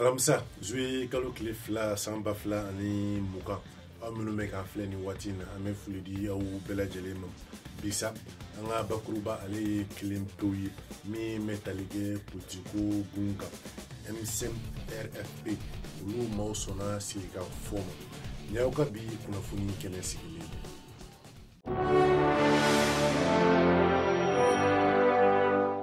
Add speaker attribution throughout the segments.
Speaker 1: alamisa zuwe kalo tile fila san ba fila ani mugan aw minnu bɛ k'an filɛ nin waati in na an bɛ foli di aw bɛɛ lajɛlen ma bi sa an ka bakuruba ale ye kelen pewu ye min bɛ tali kɛ politiko gun kan m5 rfp olu maaw sɔnna sigikafɔ ma ni aw ka bi kunnafoni kɛnɛ sigilen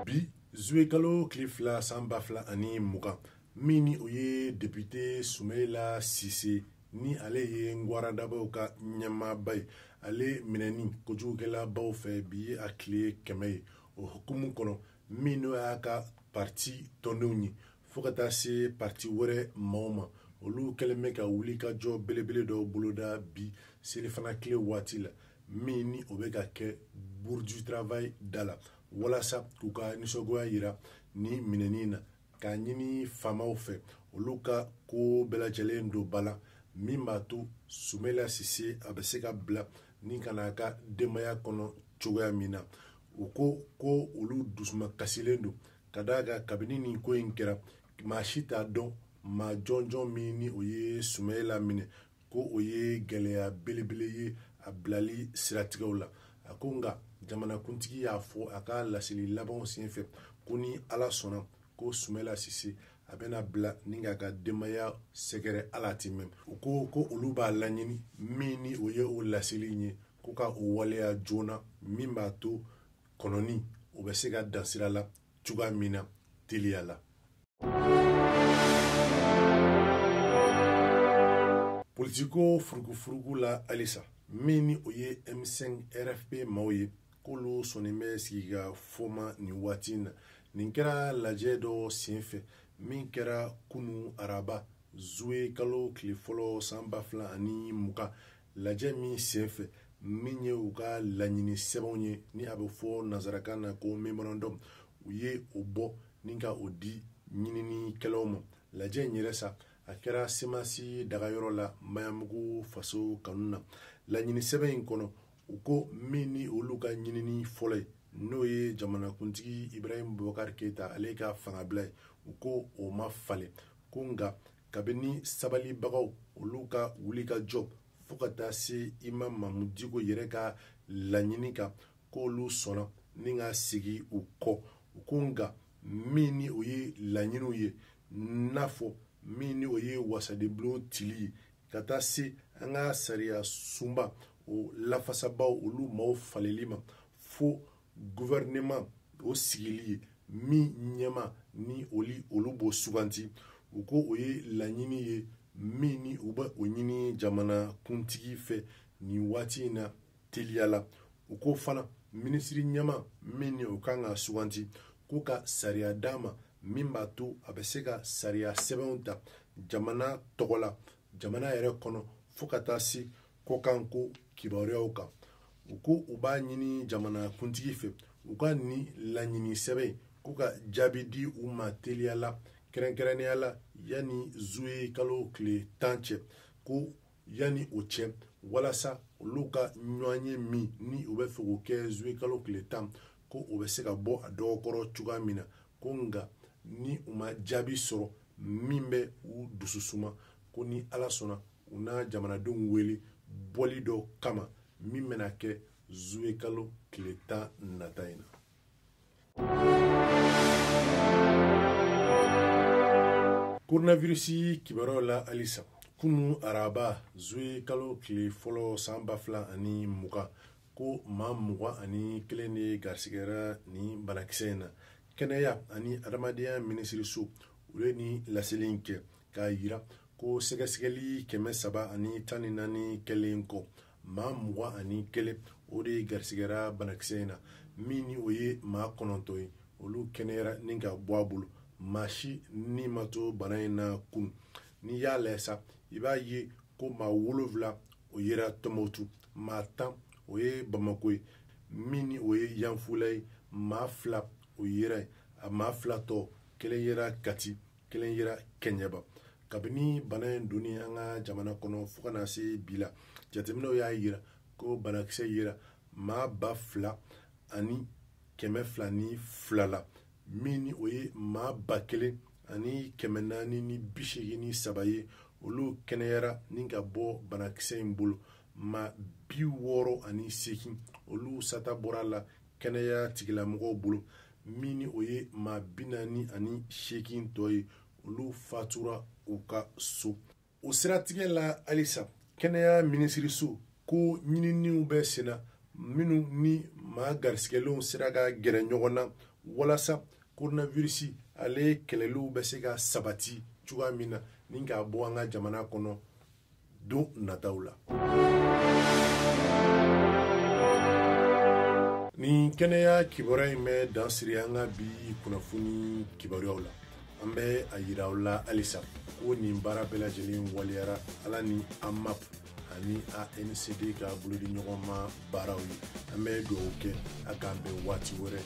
Speaker 1: bi zuwe kalo tile fila san ba fila ani mugan min ni o ye depite sumayila sise ni ale ye ngwaradabaw ka ɲɛmaaba ye ale minɛni kojugukɛlabaw fɛ bi ye a tile kɛmɛ ye o hukumu kɔnɔ min n'o y'a ka parti tɔndenw ye fo ka taa se parti wɛrɛ maaw ma olu kɛlen bɛ ka wulikajɔ belebele dɔ boloda bi selifana tile waati la min ni o bɛ ka kɛ bourse du travail da la walasa k'u ka nisɔngoya yira nin minɛni na k'a ɲini faamaw fɛ olu ka ko bɛɛ lajɛlen don ba la min b'a to sumayila sise a bɛ se ka bila ni ka n'a ka denbaya kɔnɔ cogoya min na u ko ko olu dusuma kasilen don ka d'a kan kabini nin ko in kɛra maa si t'a dɔn maa jɔnjɔn min ni o ye sumayila minɛ ko o ye gɛlɛya belebele ye a bilali siratigɛw la a ko nka jamanakuntigi y'a fɔ a ka laseli labanw senfɛ ko ni ala sɔnna ko sumayila sise a bɛna bila ni k'a ka denbaya sɛgɛrɛ ala ti mɛn u ko ko olu b'a laɲini min ni o ye o laseli ye ko ka o waleya joona min b'a to kɔnɔni o bɛ se ka dan sira la cogoya min na teliya la politiko furugufurugu la halisa min ni o ye m5 rfp maaw ye k'olu sɔnnen bɛ sigikafɔ ma nin waati in na nin kɛra lajɛ dɔ senfɛ min kɛra kunu araba zuwe kalo tile fɔlɔ san ba fila ani mugan lajɛ min senfɛ min ye u ka laɲini sɛbɛnw ye ni a bɛ fɔ nanzarakan na ko memorandum u ye o bɔ ni ka o di ɲininikɛlaw ma lajɛ in yɛrɛ sa a kɛra semasi dagayɔrɔ la maɲanbugu faso kanu na laɲini sɛbɛn in kɔnɔ u ko min ni olu ka ɲinini fɔlɔ ye n'o ye jamanakuntigi ibrahim bubakar keyita ale ka fangabila ye u ko o ma falen ko nka kabini sabalibagaw olu ka wulikajɔ fo ka taa se imamu mamudu diko yɛrɛ ka laɲini kan k'olu sɔnna ni ka sigi u kɔ u ko nka min ni o ye laɲiniw ye n'a fɔ min ni o ye wasadenbulon tili ye ka taa se an ka sariya sunba o lafasabaw olu maaw faleli ma fo gouvernement o sigili ye min ɲɛmaa ni oli olu b'o suganti u ko o ye laɲini ye min ni u bɛ o ɲini jamana kuntigi fɛ nin waati in na teliya la u ko fana minisiri ɲɛmaa min ni o kan ka suganti ko ka sariya d'a ma min b'a to a bɛ se ka sariya sɛbɛnw ta jamana tɔgɔ la jamana yɛrɛ kɔnɔ fo ka taa se kɔkanko kibaruyaw kan u ko u b'a ɲini jamana kuntigi fɛ u ka nin laɲini sɛbɛn in k'u ka jaabi di u ma teliya la kɛrɛnkɛrɛnnenya la yanni zuwe kalo tile tan cɛ ko yanni o cɛ walasa olu ka ɲɔgɔnye min ni u bɛ fɛ k'o kɛ zuwe kalo tile tan ko o bɛ se ka bɔ a dɔgɔkɔrɔ cogoya min na ko nka ni u ma jaabi sɔrɔ min bɛ u dusu suma ko ni ala sɔnna u na jamanadenw wele bɔli dɔ kama min bɛna kɛ zuwe kalo tile tan nata in na koronavirisi kibaruyaw la halisa kunu araba zuwe kalo tile fɔlɔ san ba fila ani mugan ko maa mugan ani kelen de garisigɛra ni banakisɛ in na kɛnɛya ani adamadenya minisiriso u ye ni laseli in kɛ k'a yira ko sɛgɛsɛgɛli kɛmɛ saba ani tan ni naani kɛlen kɔ maa mugan ani kelen o de garisigɛra banakisɛ in na min ni o ye maa kɔnɔntɔn ye olu kɛnɛyara ni ka bɔ a bolo maa si ni ma to bana in na kunu n'i y'a lajɛ sa i b'a ye ko maa wolonfila o yera tumutu maa tan o ye bamako ye min ni o ye yanfula ye maa fila o yera yen a maa fila tɔ kelen yera kati kelen yera kɛɲɛba kabini bana in donni an ka jamana kɔnɔ fo ka na se bi la jateminɛw y'a yira ko banakisɛ yera maa ba fila ani kɛmɛ fila ni fila la min ni o ye maa ba kelen ani kɛmɛ naani ni bi seegin ni saba ye olu kɛnɛyara ni ka bɔ banakisɛ in bolo maa bi wɔɔrɔ ani seegin olu sata bɔra la kɛnɛya tigilamɔgɔw bolo min ni o ye maa bi naani ani seegin tɔ ye olu fatura u ka so o siratigɛ la halisa kɛnɛya minisiriso ko ɲininiw bɛ senna minnu ni maa garisigɛlenw sera ka gɛrɛ ɲɔgɔn na walasa koronavirisi ale kɛlɛliw bɛ se ka sabati cogoya min na ni k'a bɔ an ka jamana kɔnɔ don nataw la nin kɛnɛya kibaruya in bɛ dan siri an ka bi kunnafoni kibaruyaw la an bɛ a yira aw la halisa ko nin baara bɛɛ lajɛlen waleyara ala ni amap ani ancd ka bolodi ɲɔgɔn ma baaraw ye an bɛ dugawu kɛ a k'an bɛn waati wɛrɛ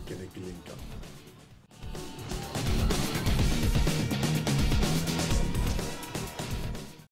Speaker 1: kɛnɛ kelen kan